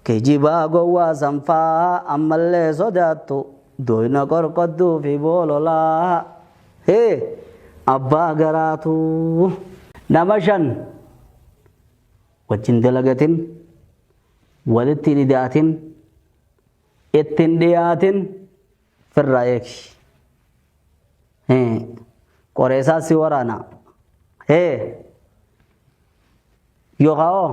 Kijibaa gowwaa sanfaa ammallee sodaattu doyna qorqodduu fi boololaa hee abbaa garaatuu. Nama shan wajjin dalagatin, walitti hin ida'atin, itti hin dhiyaatin, firraa eegi. Hee qoreesaa si waraana. Hee yookaa hoo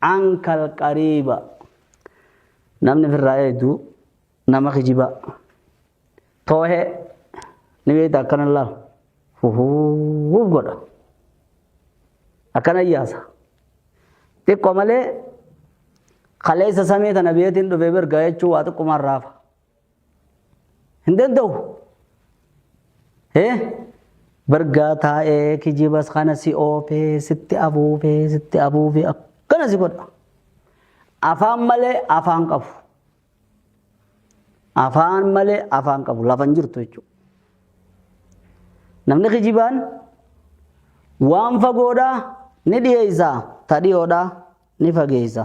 Ankal qariiba. Namni ofirraa eegdu nama kijibaa. Toohee ni beekta akkana laal. Fufuuf godha. Akkana yaasa. Xiqqoo malee kaleessa samii tana biyeetiin dhufee bergaa jechuun waa xiqqumaan raafa. hin danda'u hee bargaa taa'ee kijibas kana si oofee sitti afuufee sitti afuufee akkana si godha afaan malee afaan qabu afaan malee afaan qabu lafa hin jirtu jechuudha namni kijibaan waan fagoodhaa ni dhiyeessa ta dhiyoodhaa ni fageessa.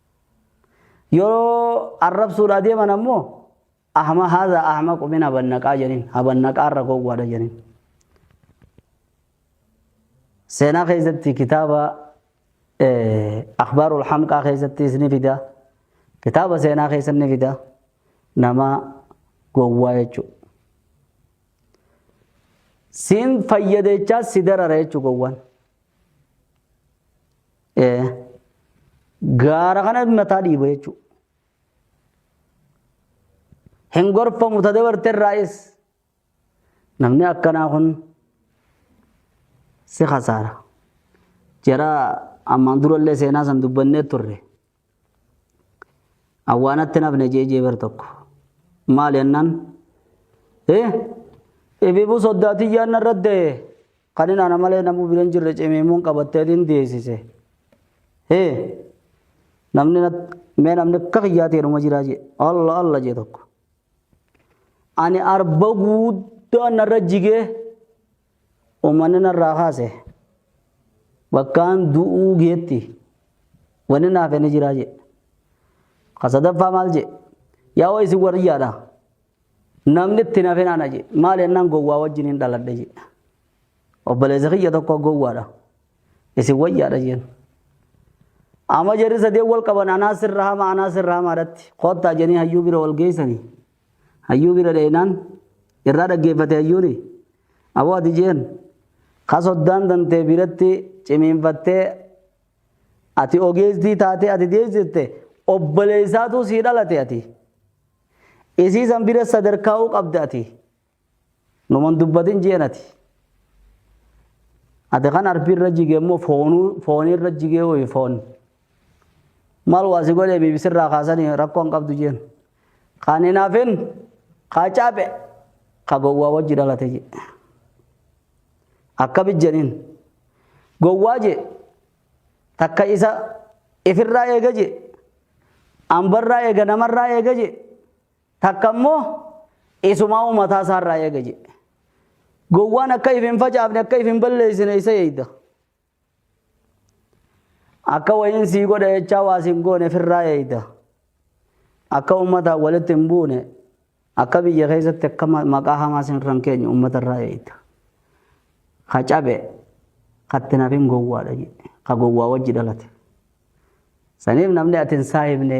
Yeroo arrabsuudhaa deeman ammoo ahma haadha ahma qubin habannaqaa jedhin habannaqaa irra gowwaadha jedhin. Seenaa keessatti kitaaba akhbaarul hamqaa keessatti isni fida kitaaba seenaa keessatti ni fida nama gowwaa jechuudha. Siin fayyadechaa si darara jechuudha gowwaan. Ee, gaara kana mataa dhiiba jechuudha. Hin gorfamu ta dabarte irraayis namni akkanaa kun si kasaara. Jara ammaan durallee seenaa san dubbannee turre. Awwaanatti nafne jee jee bar tokko. Maal jennaan? Eh? Ibibu soddaa tiyyaan narra da'e. Kan inni ana malee namuu bira hin jirre cimimuun qabattee hin deessise. Eh? Namni mee namni akka kiyyaa ta'e dhuma jiraa jee. Alla alla jee tokko. Ani arba guuddaan narra jigee Uummanni narraa kaase bakkaan du'uu geetti wanni naaf inni jiraa jedhe. Ka sadaffaa maal jedhe? Yaa waa isin wariyyaadha. Namni itti nafe naana jedhe. Maal jennaan gowwaa wajjin hin dhaladhe jedhe. Obboleessa kiyya tokko gowwaadha. Isin wayyaadha jeen. Amma jarri sadeen wal qaban anaa sirra hama anaa sirra hamaadhatti. Koottaa jennee hayyuu bira wal geessanii. Hayyuu bira dhaynaan irraa dhaggeeffate hayyuuni. Aboo ati jeen ka soddaan tantee biratti cimiinfattee ati ogeesstii taatee ati deessiste obboleessaatuu sii dhalate ati. Isii san bira sadarkaa'uu qabda ati. Numan dubbatin jeen ati. Ati kan arbi irra jige immoo foonuu foonii irra jigee ho'i foon. Maal waa si godhee biibisi irraa kaasanii rakkoo hin qabdu jeen. Kan hin hafin kaa caaphe ka gowwaa wajji dhalate jee. Akkami jeniin. Gowwaa jee takka isa ifirraa eega jee. Ambarraa eega namarraa eega jee. Takka immoo isumaa'uu mataa isaarraa eega jedhe. Gowwaan akka if hin facaafne akka if hin balleessine isa eegda. Akka wayiin sii godha jechaa waa siin goone firraa eegda. Akka uummataan walitti hin buune akka biyya keessatti akka maqaa hamaa siin irra hin keenye uummatarraa eegda. Ka cabe katti nafin gowwaadha jedhe. Ka gowwaa wajji dhalate. Saniif namni ati hin saahibne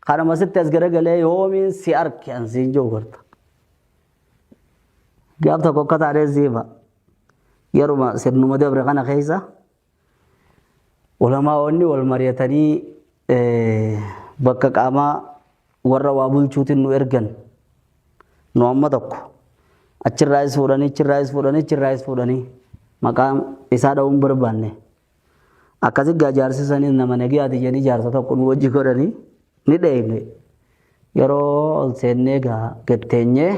Kanuma sitti as garagalee yoomiin si arke an siin jiru garta. Gaaf tokko akka taatee siifa yeruma sirnuma dabre kana keessa ulamaa'onni wal mari'atanii bakka qaamaa warra waa bulchuutiin nu ergan nu amma tokko achirraayis fuudhanii achirraayis fuudhanii achirraayis fuudhanii maqaa isaa dha'uun barbaanne Akkasi gaa jaarsi sanis nama nagiyaati jedhanii jaarsa tokko nu wajji godhanii ni dheeyne. Yeroo ol seennee gaa gad teenyee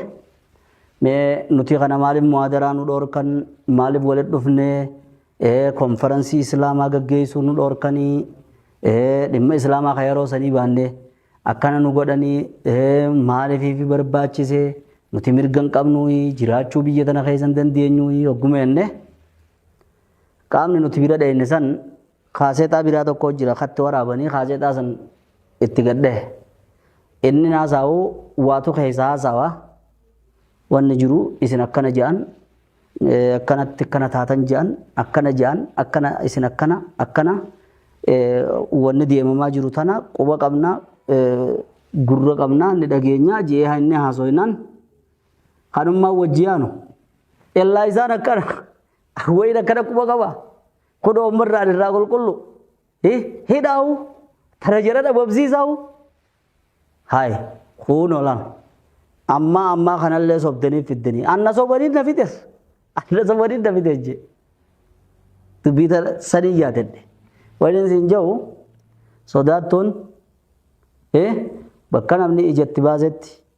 mee nuti kana maaliif muhaadaraa nu dhoorkan maaliif walitti dhufnee ee konferansii islaamaa gaggeessuu nu dhoorkanii ee dhimma islaamaa ka yeroo sanii baannee akkana nu godhanii ee maaliif barbaachise nuti mirga hin qabnuu jiraachuu biyya tana keessa hin dandeenyuu hogguma jennee Qaamni nuti bira dhayne san kaaseexaa biraa tokko jira katti waraabanii kaaseexaa san itti gad dhahe. Inni haasa'u waatu keessa haasawa wanni jiru isin akkana ja'an akkanatti akkana taatan ja'an akkana ja'an akkana isin akkana akkana wanni deemamaa jiru tana quba qabna gurra qabna ni dhageenya je'ee inni haasoinaan kanummaa wajji yaanu. Illaa isaan akkana Wayiin akkana quba qaba. Kun oommarraan irraa qulqullu. Hidhaawu. Tana jala dhabamsiisaawu. Hayi. Kun olan. Ammaa ammaa kanallee sobdanii fiddanii. Anna sobanii na fides. Anna sobanii na fides jee. Dubbii tana sanii yaadadhe. Wayiin siin jahu sodaattuun bakka namni ijatti baasetti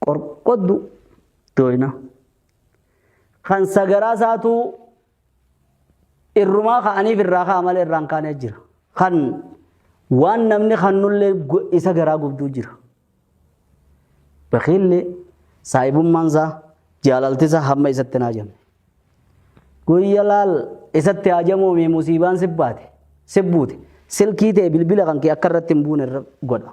Qorqoddu dooyna. Kan sagaraa isaatu irrumaa ka'aniif irraa ka'a malee irraan kaanee jira. Kan waan namni kannullee isa garaa gubduu jira. Bakiilli saahibummaan isaa jaalalti isaa hamma isatti hin haajamne. Guyya laal isatti haajamuumi musiibaan sibbaate sibbuute silkii ta'e bilbila kan kee akka irratti hin buune godha.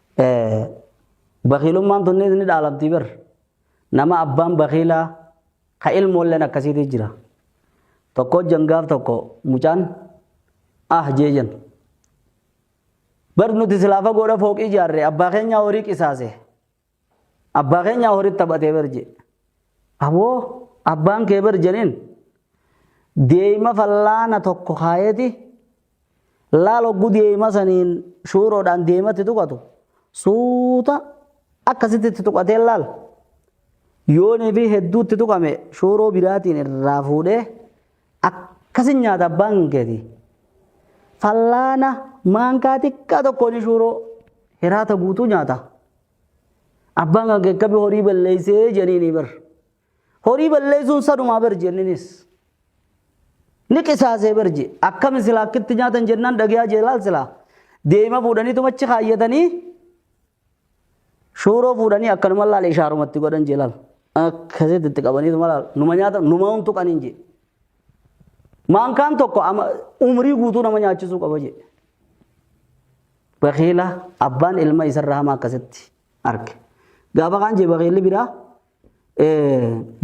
Bakiilummaan tunniis ni dhaalamti bar. Nama abbaan bakiilaa ka ilmoolleen akkasiitii jira. Tokko jangaaf tokko mucaan ah jee jan. Bar nuti silaa fagoodha fooqii ijaarre abbaa keenyaa horii qisaase. Abbaa keenyaa horii taphatee bar jee. Aboo abbaan kee bar janiin deema fallaana tokko kaayeeti Laal hogguu deema saniin shuuroodhaan deematti tuqatu suuta akkasitti itti tuqatee laal. Yoonii fi hedduutti tuqame shuuroo biraatiin irraa fuudhee akkasi nyaata abbaan keeti. Fallaana maankaa xiqqaa tokkoon shuuroo hiraata guutuu nyaata. Abbaan kan kee akkamii horii balleessee jedhanii ni bara. Horii balleessuun sanumaa bar jenninis. Ni qisaasee bar je. Akkami silaa akkitti nyaatan jennaan dhagiyaa jeelaal silaa. Deema fuudhaniituma achi kaayyatanii shuuroo fuudhanii akkanuma laal ishaarumatti godhan jeelaal. Akkasitti itti qabaniituma laal. Numa nyaata numa huntu qaniin je. Maankaan tokko umrii guutuu nama nyaachisuu qaba je. Bakiila abbaan ilma isarra hamaa akkasitti arge. Gaafa kaan je bakiilli biraa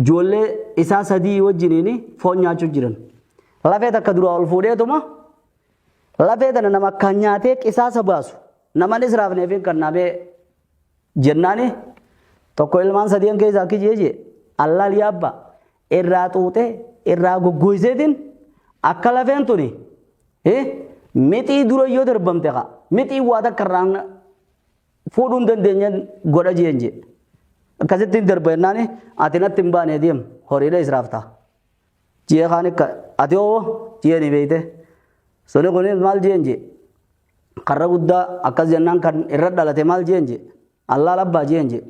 ijoollee isaa sadii wajjiniin foon nyaachuu jiran. Lafee takka duraa ol fuudheetuma lafee tana nama akkaan nyaatee qisaasa baasu namanis raafneefiin kan naamee jennaani tokko ilmaan sadeen keessaa akki jeeje allaal yaabba irraa xuuxee irraa goggooyseetiin akka lafeen tuni mixii dura yoo darbamte kaa mixii waa takka irraan fuudhuu hin dandeenyeen godha jeen jee. Akkasitti hin darba jennaan ati natti hin baane deem horiidha israaf ta'a. Jee kaan akka ati hoo jee ni beeyte. Suni kun maal jeen jee. Karra guddaa akkas jennaan kan irra dhalate maal jeen jee. Allaa labbaa jeen jee.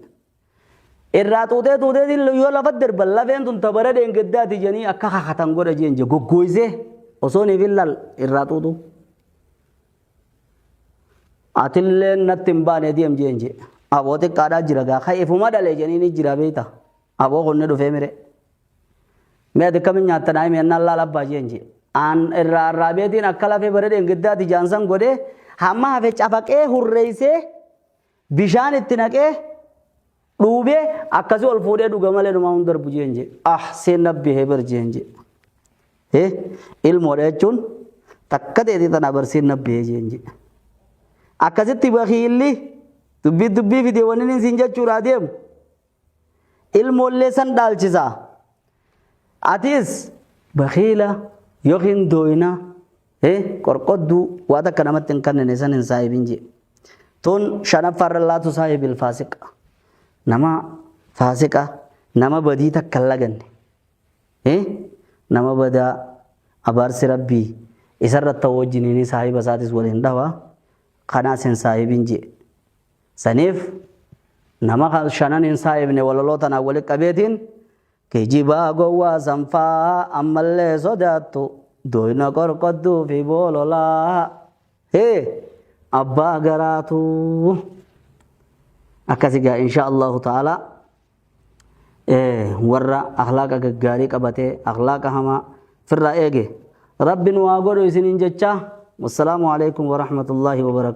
Irraa xuuxee xuuxeetiin yoo lafa darban lafeen tun tabara dheengaddaati jedhanii akka kakatan godha jeen jee goggooysee osoo niif hin lal irraa xuuxu. Atillee natti hin baane deem jeen jee aboo xiqqaadhaa jira gaa ka ifuma dhalee jedhanii ni jira beeyta aboo kun ni dhufee mire. Mee ati kamiin nyaattan haa himi ennaan laal abbaa jeen jee. Aan irraa irraa beetiin akka lafee bara dheengaddaati jaansan godhee hamma hafe cafaqee hurreeysee Bishaan itti naqee dhuubee akkasi ol fuudhee dhuga malee numaa hin darbu jeen jee. Ah seen nabbi heber jeen jee. Hee ilmoodha jechuun takka ta'eeti tana barseen nabbi hee jeen jee. Akkasitti bakiilli dubbii dubbii fidee wanni inni siin jechuudha adeemu. ilmoollee san dhaalchisa. Atis bakiila yookiin dooyina qorqodduu waa takka namatti hin kannine san hin saahibin jee. Tun shanaffaarra laatu saahibil faasiqa. Nama faasiqa nama badii takka hin laganne. Nama badaa abaarsi rabbii isarra ta'u wajjiniin saahiba isaatis waliin dhawa kanaas hin saahibin jee. Saniif nama shanan hin saayifne walaloo tanaan walitti qabeetiin kijibaa gowwaa sanfaa ammallee sodaattu dooyna qorqodduu fi boololaa hee abbaa garaatu akkasi gaa insha allahu ta'ala warra akhlaaqa gaggaarii qabatee akhlaaqa hamaa firraa eege rabbi nu haa godhu isiniin jechaa wassalaamu alaikum warahmatullaahi wabarakaatu